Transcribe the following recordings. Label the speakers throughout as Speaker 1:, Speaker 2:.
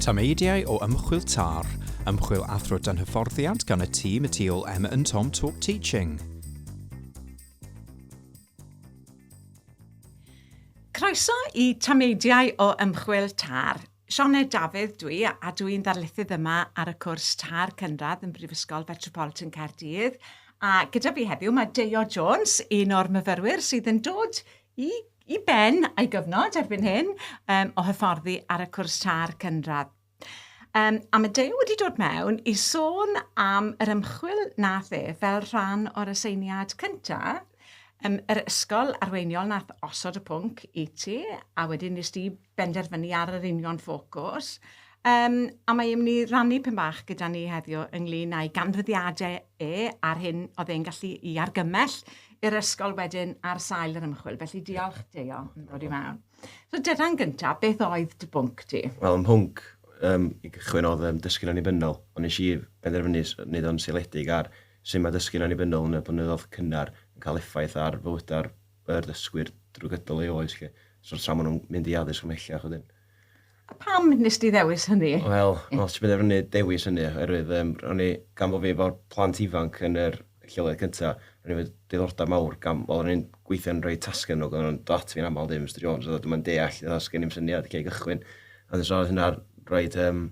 Speaker 1: Tameidiau o ymchwil TAR, Ymchwil Athro Dan Hyfforddiant gan y tîm y tu ôl Emma and Tom Talk Teaching.
Speaker 2: Croeso i Tameidiau o ymchwil TAR, Sioned Dafydd dw i a dw i'n ddarlithydd yma ar y cwrs Târ Cynradd yn Brifysgol Fetropolitan Caerdydd a gyda fi heddiw mae Deio Jones, un o'r myfyrwyr sydd yn dod i, i ben a'i gyfnod erbyn hyn um, o hyfforddi ar y cwrs Târ Cynradd. Um, a mae Deio wedi dod mewn i sôn am yr ymchwil nath e fel rhan o'r aseiniad cyntaf um, yr ysgol arweiniol nath osod y pwnc i ti, a wedyn nes ti benderfynu ar yr union ffocws. Um, a mae e'n mynd i rannu pyn bach gyda ni heddiw ynglyn â'i ganfyddiadau e a'r hyn oedd e'n gallu i argymell i'r ysgol wedyn ar sail yr ymchwil. Felly diolch Deo yn dod i mewn. So dyda'n gyntaf, beth oedd dy bwnc ti? Wel, ym mhwnc
Speaker 3: um, i gychwyn oedd um, dysgu'n annibynnol, ond nes i benderfynu wneud o'n seiliedig ar sut mae dysgu'n annibynnol yn y blynyddoedd cynnar yn cael effaith ar fywydau'r y ddysgwyr drwy gydol ei oes 'lly. So tra maen nhw'n mynd i addysg ymhellach wedyn. A pam
Speaker 2: nes di ddewis hynny? Wel, os ti'n penderfynu
Speaker 3: dewis hynny, oherwydd um, ro'n i, gan bod fi efo'r plant ifanc yn yr lleoliad cyntaf, ro'n i wedi diddordeb mawr, gan, wel, ro'n i'n gweithio'n rhoi tasgau nhw, ro'n dat fi'n aml ddim, Mr Jones, oedd yma'n deall, oedd sgen i'n syniad lle i gychwyn. A nes oedd hynna roed um,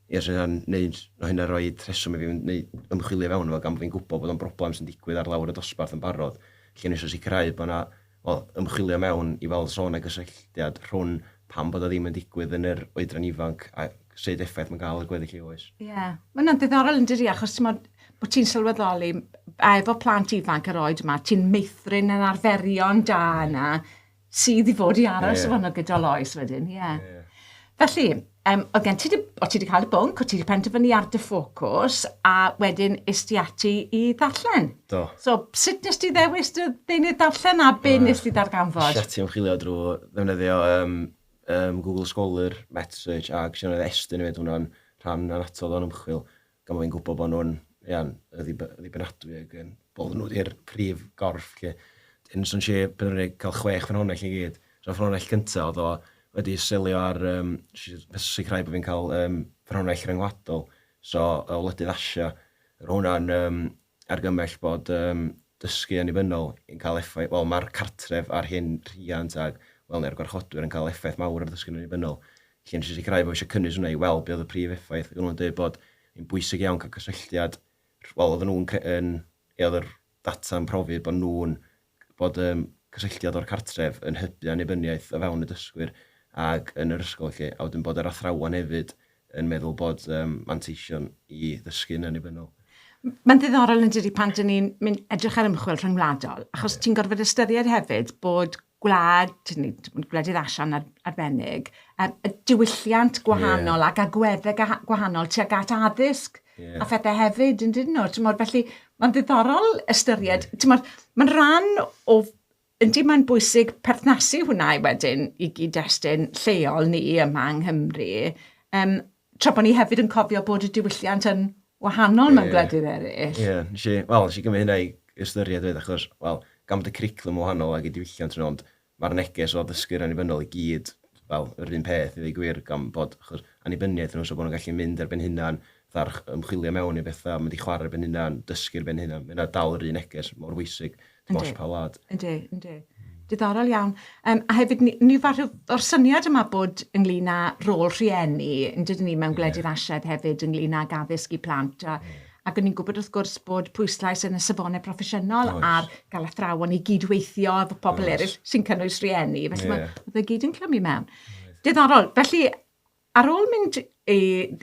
Speaker 3: Ie, so hynna'n neud, ma' hynna'n roid rheswm i fi fynd neu ymchwilio i fewn iddo fo gan bo' fi'n gwbo bod o'n broblem sy'n digwydd ar lawr y dosbarth yn barod, felly o'n i isio sicrhau bo' 'na, wel, ymchwilio mewn i weld os o' 'na gysylltiad rhwn pam bod o ddim yn digwydd yn yr oedran ifanc a sud effaith ma'n ga'l ar gweddill ei oes. Ie. Ma' hwnna'n ddiddorol
Speaker 2: yndydi achos t'mod bo' ti'n sylweddoli a efo plant ifanc yr oed yma ti'n meithrin yr arferion da yna sydd i fod i aros yeah. yno gyda Lois wedyn, ie. Yeah. Yeah. Felly, um, oedd gen ti, o ti wedi cael y bwnc, o ti wedi penderfynu ar dy ffocws, a wedyn is ti ati i ddarllen. Do. So,
Speaker 3: sut nes ti
Speaker 2: ddewis dy ddeunydd darllen a be uh, nes ti ddarganfod? Sut ti'n chwilio drwy
Speaker 3: ddefnyddio um, um, Google Scholar, MetaSearch a gwestiynau estyn i fyd hwnna'n rhan anatod o'n ymchwil. Gan fod fi'n gwybod bod nhw'n ia, yn ddib- ddibynadwy ac yn bod nhw wedi'r prif gorff 'lly. Wedyn swn i isio penderfynu cael chwech ffynhonnell i gyd. So ffynhonnell cynta oedd o wedi selio ar yym jyst i jyst sicrhau bod fi'n cael yym ffynhonnell ryngwladol. So o wledydd Asia. Roedd hwnna'n yym argymell bod yym dysgu annibynnol yn cael effaith, wel mae'r cartref a'r hyn rhiant a wel neu'r gwarchodwyr yn cael effaith mawr ar ddysgu'n annibynnol. Felly yn sicrhau fod eisiau cynnwys hwnna i weld beth oedd y prif effaith. Oedden nhw'n dweud bod yn bwysig iawn cael cysylltiad, wel oedden nhw'n, yn, e oedd yr data'n profi bod nhw'n bod y cysylltiad o'r cartref yn hybu annibyniaeth o fewn y dysgwyr ac yn yr ysgol felly, a wedyn bod yr athrawon hefyd yn meddwl bod um, manteision i ddysgu'n annibynnol. Mae'n ddiddorol
Speaker 2: yn dydy pan dyn ni'n mynd edrych ar ymchwil rhyngwladol, achos yeah. ti'n gorfod ystyried hefyd bod gwlad, gwledydd asian ar, arbennig, um, y diwylliant gwahanol yeah. ac agweddau gwahanol tuag at addysg yeah. a phethau hefyd, yn dyn nhw. Tymod, felly, mae'n ddiddorol ystyried, yeah. tymod, mae'n rhan o Yndi, mae'n bwysig perthnasu hwnna i wedyn i gyd-destun lleol ni yma yng Nghymru. Um, tra bod ni hefyd yn cofio bod y diwylliant yn wahanol yeah. mewn gwledydd eraill. Ie, yeah. wel, nes
Speaker 3: i gymryd hynna i ystyried fyd, achos, wel, gan bod y curriculum wahanol ag y diwylliant yn ond, mae'r neges o ddysgu'r annibynnol i gyd fel yr un peth i ddweud gwir gan bod achos annibyniaeth nhw so bod nhw'n gallu mynd ar ben hunan fatha'r ch- ymchwilio mewn i bethau mynd i chwarae ar ben hunan dysgu ar ben hunan mae hynna dal yr un neges mor bwysig dim ots pa wlad. Yndi,
Speaker 2: yndi. Diddorol iawn. Um, a hefyd, ni, ni fath o'r syniad yma bod ynglyn â rôl rhieni, yn dydyn ni mewn gwledydd yeah. asiad hefyd, ynglyn â gaddysg i plant, a, ac ni'n gwybod wrth gwrs bod pwyslais yn y safonau proffesiynol Oes. ar gael athrawon i gydweithio efo pobl Oes. eraill sy'n cynnwys rhieni. Felly yeah. mae fe gyd yn clymu mewn. Oes. Diddorol. Felly, ar ôl mynd i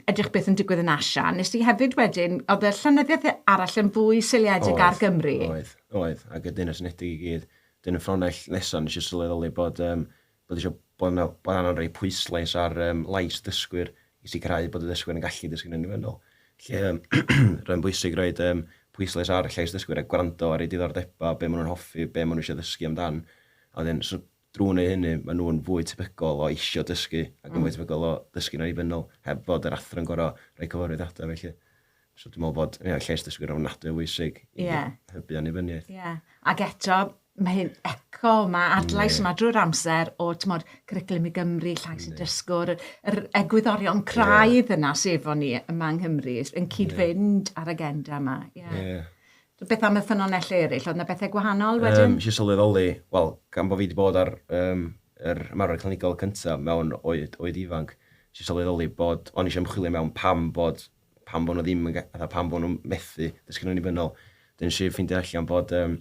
Speaker 2: edrych beth yn digwydd yn Asia, nes i hefyd wedyn, oedd y llenyddiaeth arall yn fwy seiliedig ar Gymru. Oedd, oedd. Ac y
Speaker 3: Deyrnas Unedig i gyd. Dyn y ffronell nesaf, nes i sylweddoli bod um, bod eisiau bod yna, bod angen rhoi pwyslais ar um, lais dysgwyr i sicrhau bod y dysgwyr yn gallu dysgu'n ynifennol. Lle um, rhaid bwysig rhoi um, pwyslais ar llais dysgwyr a gwrando ar eu diddordebau, be maen nhw'n hoffi, be maen nhw eisiau ddysgu amdan. A wedyn, so, drwy wneud hynny, maen nhw'n fwy tebygol o eisiau dysgu ac yn mm. fwy tebygol o ddysgu'n ynifennol heb fod yr athro'n gorau rhoi cyfarwydd ata felly. So dwi'n meddwl bod yeah, lles dysgwyr
Speaker 2: ofnadwy
Speaker 3: o bwysig i yeah. hybu annibyniaeth.
Speaker 2: Yeah.
Speaker 3: Ac eto, mae
Speaker 2: hyn eco, mae adlais yeah. yma drwy'r amser o tymod, cwricwlum i Gymru, llais y dysgwr, yr egwyddorion craidd yeah. yna sef efo ni yma yng Nghymru, yn cyd-fynd yeah. ar agenda yma. Yeah. Yeah. Beth am y ffynonellau eraill? Oedd yna bethau gwahanol wedyn? Um, Isi sylweddoli,
Speaker 3: wel, gan bod fi wedi bod ar um, yr ymarfer clinigol cyntaf mewn oed, oed ifanc, sy'n sylweddoli bod, o'n eisiau ymchwilio mewn pam bod pam bod nhw ddim yn, fatha, pam bod nhw'n methu dysgu'n annibynnol. Dyn nes i ffeindio allan bod, um,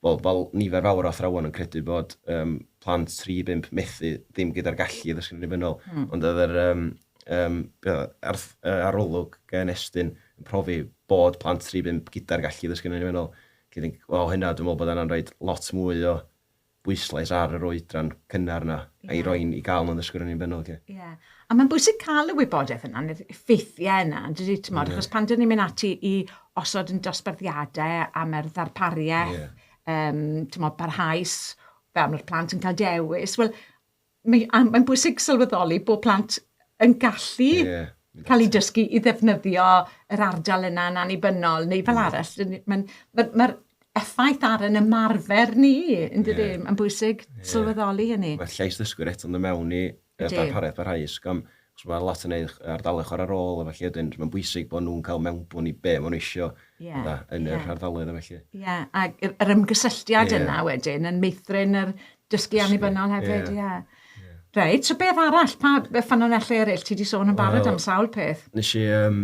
Speaker 3: well, fel nifer fawr o athrawon yn credu bod um, plant 3-5 methu ddim gyda'r gallu i ddysgu'n annibynnol. Mm. Ond oedd yr um, um, ar, arolwg gan Estyn yn profi bod plant 3-5 gyda'r gallu i ddysgu'n annibynnol. Felly, o hynna, dwi'n meddwl bod yna'n rhaid lot mwy o bwyslais ar yr oedran cynnar 'na a'i roi i gael nhw'n ddysgwyr yn unfennol 'lly. Ie. A mae'n
Speaker 2: bwysig cael y wybodaeth yna, neu'r ffeithiau yna, yn dydy, ti'n modd, achos pan dyn ni'n mynd ati i osod yn dosbarthiadau am yr ddarpariaeth, ti'n modd, parhaus, fel mae'r plant yn cael dewis, wel, Mae, a mae'n bwysig sylweddoli bod plant yn gallu yeah, cael eu dysgu i ddefnyddio yr ardal yna yn annibynnol, neu fel mm. arall. Mae'n ma, ma effaith ar yn ymarfer ni, yn dydy, yeah. mae'n bwysig yeah. sylweddoli hynny. Mae llais ddysgwyr eto'n
Speaker 3: dod mewn i darpariaeth barhaus. Am, Achos mae lot yn eu ardaloedd chwarae rôl a felly wedyn mae'n bwysig bod nhw'n cael mewnbwn i be maen nhw eisiau yeah, yn yr yeah. ardaloedd a felly. Ie, yeah. ac
Speaker 2: yr ymgysylltiad yeah. yna wedyn yn meithrin yr dysgu annibynnol hefyd, ie. Yeah. Yeah. Reit, so beth arall? Pa ffynonellau eraill? Ti wedi sôn yn barod well, am sawl peth. Nes i um,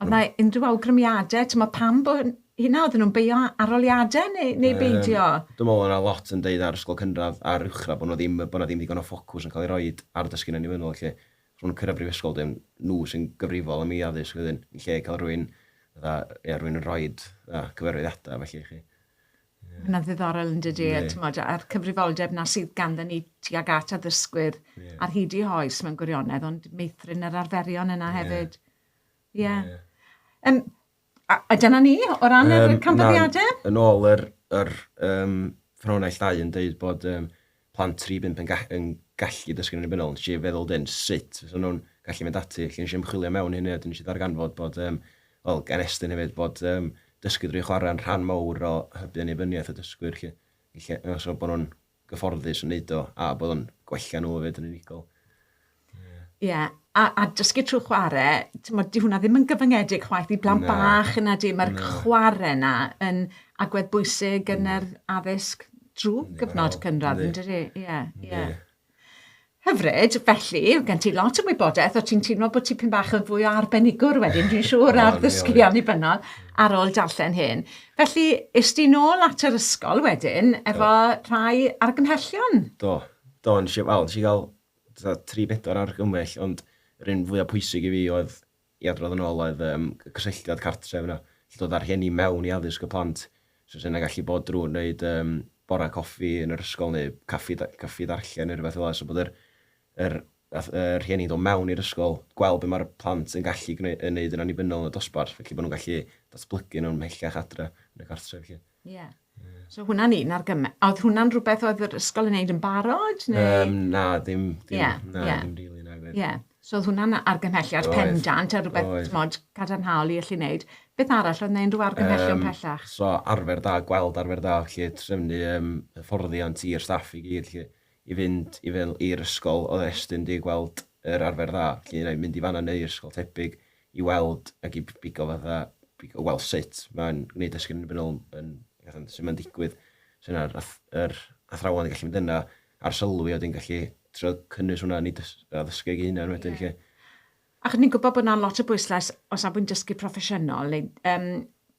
Speaker 3: Oedd yna unrhyw
Speaker 2: awgrymiadau? Timod, pam bod hynna? Oedden nhw'n beio arholiadau neu, neu um, beidio? Dwi'n meddwl yna lot
Speaker 3: yn deud ar ysgol cynradd a'r uwchradd bod nhw ddim, bod yna ddim ddigon o ffocws yn cael ei roi ar dysgu'n annibynnol lle. Os nhw'n cyrraedd brifysgol, dim nhw sy'n gyfrifol am ei addysg wedyn, yn lle cael rhywun, dda, ia, rhywun yn rhoi cyfarwyddiadau felly i chi. Mae'n
Speaker 2: ddiddorol yn dydy, yeah. tymod, a'r cyfrifoldeb na sydd ganddo ni tuag at addysgwyr yeah. ar hyd i hoes mewn gwirionedd, ond meithrin yr arferion yna yeah. hefyd. Ie. Ie. Yym a a dyna ni o ran yr... Yym na. ...canfyddiade. Yn ôl yr
Speaker 3: yr yym ffynhonnell ddau yn deud bod yym plant tri i bump yn ga- yn gallu dysgu'n annibynnol, nes i feddwl 'dyn sut fysa nhw'n gallu mynd ati? Felly nes i ymchwilio mewn i hynny a 'dyn nes i ddarganfod bod yym wel gan Estyn hefyd bod yym dysgu drwy chwarae'n rhan mowr o hybu annibyniaeth y dysgwyr 'lly. Felly yy so bo' nhw'n gyfforddus yn wneud o, a bod o'n gwella nhw hefyd yn unigol. Ie, yeah.
Speaker 2: a, a dysgu trwy chwarae, mod, di hwnna ddim yn gyfyngedig chwaith i blant bach yna di, mae'r chwarae yna yn agwedd bwysig yn yr addysg drwy gyfnod cynradd, yn dydy? Ie, ie. Hyfryd, felly, gen ti lot o wybodaeth o ti'n teimlo bod ti pyn bach yn fwy o arbenigwr wedyn, dwi'n siŵr, ar ddysgu annibynnol ar ôl darllen hyn. Felly, is ti nôl at yr ysgol wedyn efo Do. rhai argymhellion? Do, do, nes
Speaker 3: i, wel, nes i gael tri bedwar argymell, ond yr un fwyaf pwysig i fi oedd i adrodd yn ôl oedd yym y cysylltiad cartref yna, gallu dod â'r rhieni mewn i addysg y plant, so sy'n gallu bod drwy wneud yym bora coffi yn yr ysgol neu caffi, caffi ddarllen neu rhywbeth fel yna, so bod yr, yr, yr rhieni'n dod mewn i'r ysgol, gweld beth mae'r plant yn gallu gwneud yn annibynnol yn y dosbarth, felly bod nhw'n gallu datblygu nhw'n mhellach adre yn y cartref felly. Ie.
Speaker 2: So hwnna'n un ar gyfer... Oedd hwnna'n rhywbeth oedd yr ysgol yn neud yn barod neu? Um, na, ddim,
Speaker 3: dim, yeah, na, yeah. dim rili, na gwir. Yeah. So oedd hwnna'n
Speaker 2: argymhelliad oedd, pendant a rhywbeth oedd. mod cadarnhaol i allu neud. Beth arall oedd neud rhyw argymhellion um, pellach? So arfer da,
Speaker 3: gweld arfer da, lle trefnu um, hyfforddiant i'r staff i gyd, lle i fynd i fel i'r ysgol, oedd estyn di gweld yr arfer dda, lle i mynd i fanna neu'r ysgol tebyg, i weld ac i bigo fatha, bigo, wel sut mae'n gwneud esgyn yn ymwneud yn fatha, sut mae'n digwydd, so yna'r yr athrawon yn gallu mynd yna ar sylwi a wedyn gallu trio cynnwys hwnna yn ei ddysgu ei hunan wedyn yeah. lle. Ac
Speaker 2: ni'n gwybod bod yna lot o bwyslais o safbwynt dysgu proffesiynol neu um,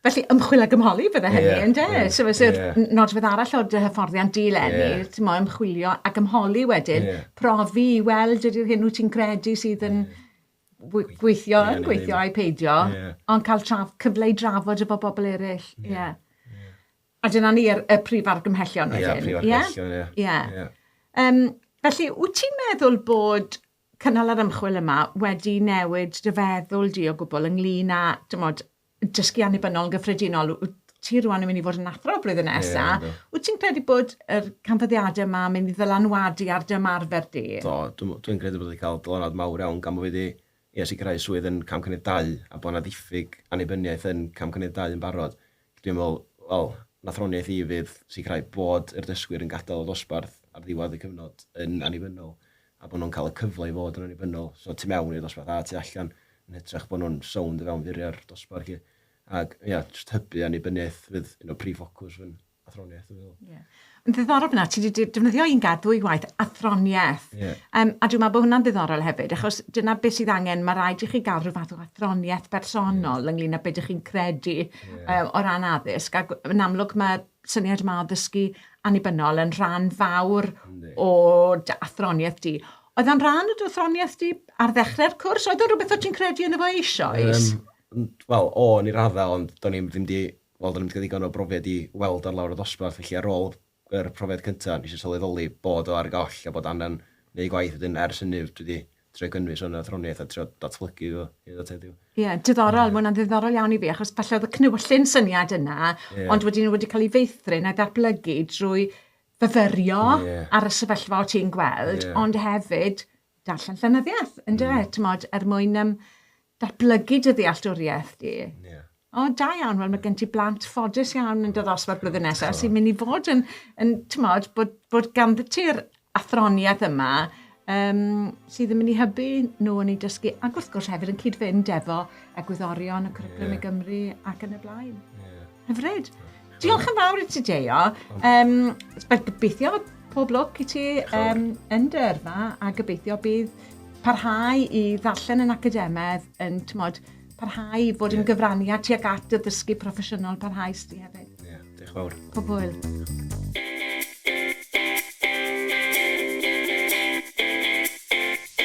Speaker 3: Felly
Speaker 2: ymchwil a gymholi bydde hynny yeah, ynde? Yeah, so fysa yeah. nodwedd arall o dy hyfforddiant dilenni, yeah. ti'n mo, ymchwilio a gymholi wedyn, yeah. profi i weld ydy'r hyn wyt ti'n credu sydd yn yeah gweithio yeah, yn gweithio a'i peidio, yeah. ond cael traf, cyfle i drafod efo bobl eraill. Yeah. Yeah. Yeah. A dyna ni y, y prif argymhellion wedyn. Ie, prif argymhellion, ie. Yeah.
Speaker 3: Yeah. Um,
Speaker 2: felly, wyt ti'n meddwl bod cynnal yr ymchwil yma wedi newid dy feddwl di o gwbl ynglyn â, dymod, dysgu annibynnol yn gyffredinol, ti rwan yn mynd i fod yn athro blwyddyn nesa, yeah, wyt ti'n credu bod yr canfyddiadau yma yn mynd i ddylanwadu ar dy ymarfer di? Do, dwi'n dwi credu bod
Speaker 3: wedi cael dylanwad mawr iawn gan bod wedi i a sicrhau swydd yn cam cynnydd 2 a bod yna ddiffyg annibyniaeth yn cam cynnydd 2 yn barod. Dwi'n meddwl, wel, nathroniaeth i fydd sicrhau bod yr dysgwyr yn gadael y dosbarth ar ddiwedd y cyfnod yn annibynnol. a bod nhw'n cael y cyfle i fod yn annibynnol, so tu mewn i'r dosbarth a tu allan, yn hytrach bod nhw'n sownd o fewn furiau'r dosbarth 'lly. Ac ia, jyst hybu annibyniaeth fydd un o prif ffocws fy athroniaeth dwi'n meddwl. Ie. Yn
Speaker 2: ddiddorol fan'na, ti 'di defnyddio un gair ddwywaith, athroniaeth. Ie. Yym, a dwi'n meddwl bod hwnna'n ddiddorol hefyd, achos dyna beth sydd angen, mae rhaid i chi gael rhyw fath o athroniaeth bersonol ynglyn â beth ydych chi'n credu yy o ran addysg, ac yn amlwg mae syniad yma o ddysgu annibynnol yn rhan fawr o dy athroniaeth di. Oedd o'n rhan o dy athroniaeth di ar ddechrau'r cwrs? Oedd o'n rhywbeth o ti'n credu yn efo eisoes? Um, Wel, o,
Speaker 3: yn ei raddau, ond do'n i'n ddim di... Wel, do'n i'n ddim ddigon o brofiad i weld ar lawr y dosbarth, felly ar ôl yr profiad cyntaf, nes i sylweddoli bod o ar goll a bod angen neu gwaith wedyn ers hynny dwi wedi trio gynnwys hwn athroniaeth a trio datblygu fo hyd at heddiw. Ie, yeah, diddorol, mae hwnna'n
Speaker 2: ddiddorol iawn i fi, achos falle oedd y cnywllun syniad yna, yeah. ond wedyn wedi cael ei feithrin a ddatblygu drwy fyfyrio yeah. ar y sefyllfa o ti'n gweld, yeah. ond hefyd darllen llenyddiaeth, ynddo mm. e, tymod, er mwyn um, datblygu dy ddealltwriaeth di. Yeah. O, da iawn, wel mae gen ti blant ffodus iawn yn dy ddosbarth blwyddyn nesaf sy'n mynd i fod yn, yn tymod, bod, bod ganddo ti'r athroniaeth yma um, sydd yn mynd i hybu nhw yn ei dysgu ac wrth gwrs hefyd yn cyd-fynd efo egwyddorion y cwricwlwm yeah. i Gymru ac yn y blaen. Yeah. Hyfryd. Diolch yn fawr i ti, Deio. Um, gobeithio pob lwc i ti um, yn dy yrfa a gobeithio bydd parhau i ddarllen yn academedd yn, tymod, parhau i fod yn gyfraniad tuag at y ddysgu proffesiynol parhaus di hefyd. Ie, diolch fawr. Pob
Speaker 3: hwyl.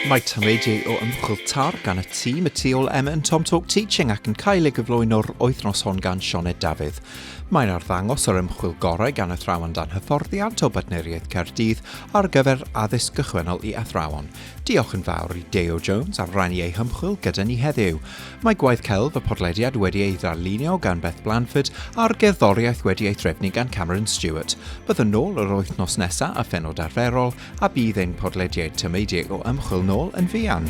Speaker 1: Mae tameidiau o ymchwil TARG gan y tîm y tu ôl Emma yn Tom Talk Teaching ac yn cael ei gyflwyno'r wythnos hon gan Sioned Dafydd. Mae'n arddangos yr ymchwil gorau gan athrawon dan hyfforddiant o Bartneriaeth Caerdydd ar gyfer addysg gychwynnol i athrawon. Diolch yn fawr i Deo Jones am rannu ei hymchwil gyda ni heddiw. Mae gwaith celf y podlediad wedi ei ddarlunio gan Beth Blanford a'r gerddoriaeth wedi ei threfnu gan Cameron Stewart. Byddwn nôl yr wythnos nesaf a phenod arferol a bydd ein podlediad tymeidiau o ymchwil nôl yn fuan.